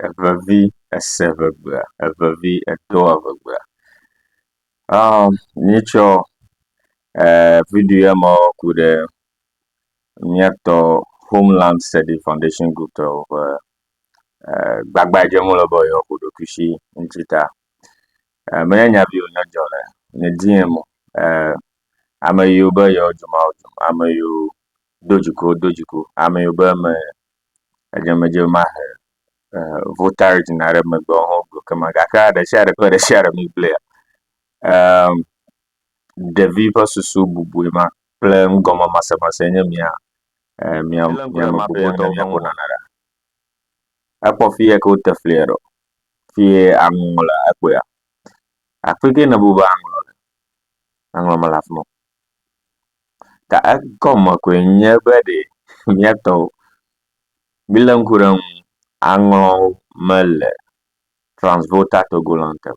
evevi ese evegbea, evevi edo evegbea. Aa míetsɔ ee viɖi ya me ku ɖe míatɔ Homeland Study Foundation Group tɔwo ƒe e gbagba yi dzem wo le be yewoaku ɖokuisi ŋuti ta. E menye nya vi wonye dzɔ le nye di em o e ame yiwo be yewo dzomawodzomawo, ame yiwo do dziku wododzi ku, ame yiwo be me edzemedze mahe votaɖi na ɖe megbe o ho gblɔ kema gake ɖesiaɖe kple ɖesiaɖe mi gblɔea emm ɖevi ƒe susu bubue ma kple nugɔme masemase nye mia mia miamebubuaɖa ekpɔ fiyɛ ke wote flia ɖo fiye aŋɔŋlɔ le ekpɔea afike nebu be aŋɔŋlɔ le aŋɔŋlɔ mele afima o ta egɔme koe nye be ɖe míatɔ o. Mílé ŋku ɖe eŋu aŋlɔwo mele Transvolta Togoland te o.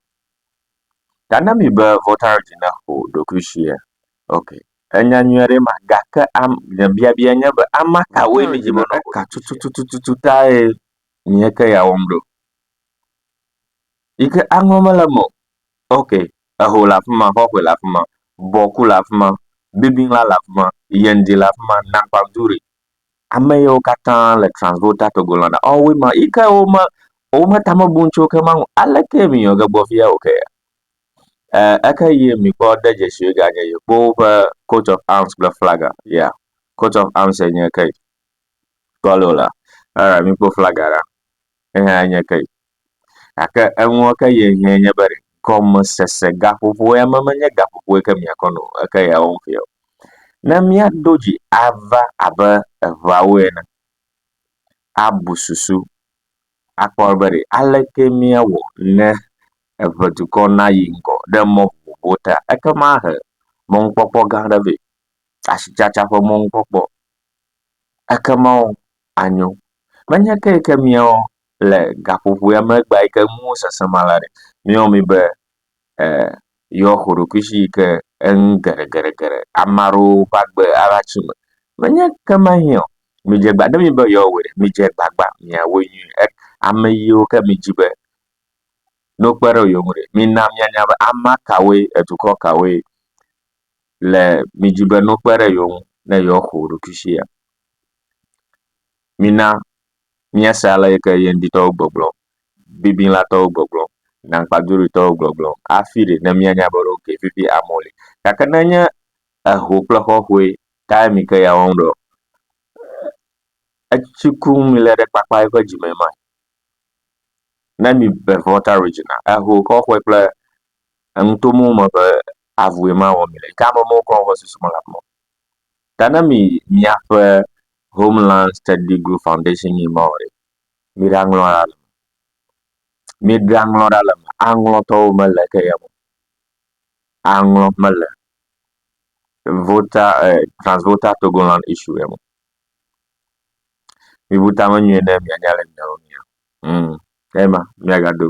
Ta ne mi be Volta Region naƒo ɖokui shia? Ok, enya nyuie ɖe ma gake am nye biabia nye be ama kawoe mi dzi be woaƒo ɖokui shia? Tututututu tae nye ke ya wɔm ɖo. Yi ke aŋlɔ mele eme o. Ok, Eho le afi ma, xɔxɔe le afi ma, bɔku le afi ma, bibila le afi ma, yendi le afi ma, nagbaduri. Ame yawo katã le Transvolta Togolândia. Ɔ woe ma yi ke wome wome tame bum tso ke ma ŋu. Aleke mi nɔ ge gbɔ fia o kea? E eke yi mikpɔ de dzesi ganye yi kpo woƒe coat of arms kple flaga. Ya. Coat of arms e nye ke. Kpɔ lo la. Alright mikpo flaga ɖa. Eya enye ke. Gake eŋua ke ye hiã nye be gɔmesese gaƒoƒo ya menye gaƒoƒoe ke miakɔ nɔ o, eke ya wɔm fiɔ. Ne míaɖo dzi ava abe eŋeawo ene, abu susu akpɔ be ɖe aleke míawɔ ne eŋedukɔ nayi ŋgɔ ɖe mɔ vovovowo ta. Ekema ahe mɔnukpɔkpɔ gã aɖe vɛ, asitsatsa ƒe mɔnukpɔkpɔ. Ekema anyo. Menye ke yi ke miawo le gaƒoƒoea megbe yi ke nuwo sese ma la ɖe, míewɔ mí be e yɔ xo ɖokui shi yi ke eŋ geɖegeɖegeɖe ame aɖewo ƒe agbe ava tsi me. Menye kema hĩ ɔ, midze gba ne mi be yɔ wɔe ɖe, midze gbagba mia wɔe nyuie. E ame yiwo ke mi dzi be ne wokpe ɖe yewo ŋu ɖe, mina mia nya be ame kawoe, edukɔ kawoe le mi dzi be ne wokpe ɖe yewo ŋu ne yɔ xo ɖokui shia. Mina Míase ale yi ke Yeŋditɔwo gbɔgblɔ, Bibilatɔwo gbɔgblɔ, Nankpaduritɔwo gbɔgblɔ hafi ɖi ne míanya be ɖeko vivi amewo li. Gake ne enye eho kple xɔxɔe kae mi ke ya wɔm ɖo? Etsi kum mele ɖe kpakpa eƒe dzime ma. Ne mi be Volta Regina, eho xɔxɔe kple enutomo me ƒe avue ma wɔm mele. Yi ke ame mɔwo kɔ woƒe susu me le afi ma. Ta ne mi miaƒe Homeland Study Group Foundation yi ma o ɖe, miɖaŋlɔ ɖa le me. Miɖaŋlɔ ɖa le me. Aŋlɔtɔwo mele ke ye me. Aŋlɔ mele voter eh, transvoter Togoland issue ye me. Mibu tame nyuie ne mianya le miawo mia. Mm. Ema miagado.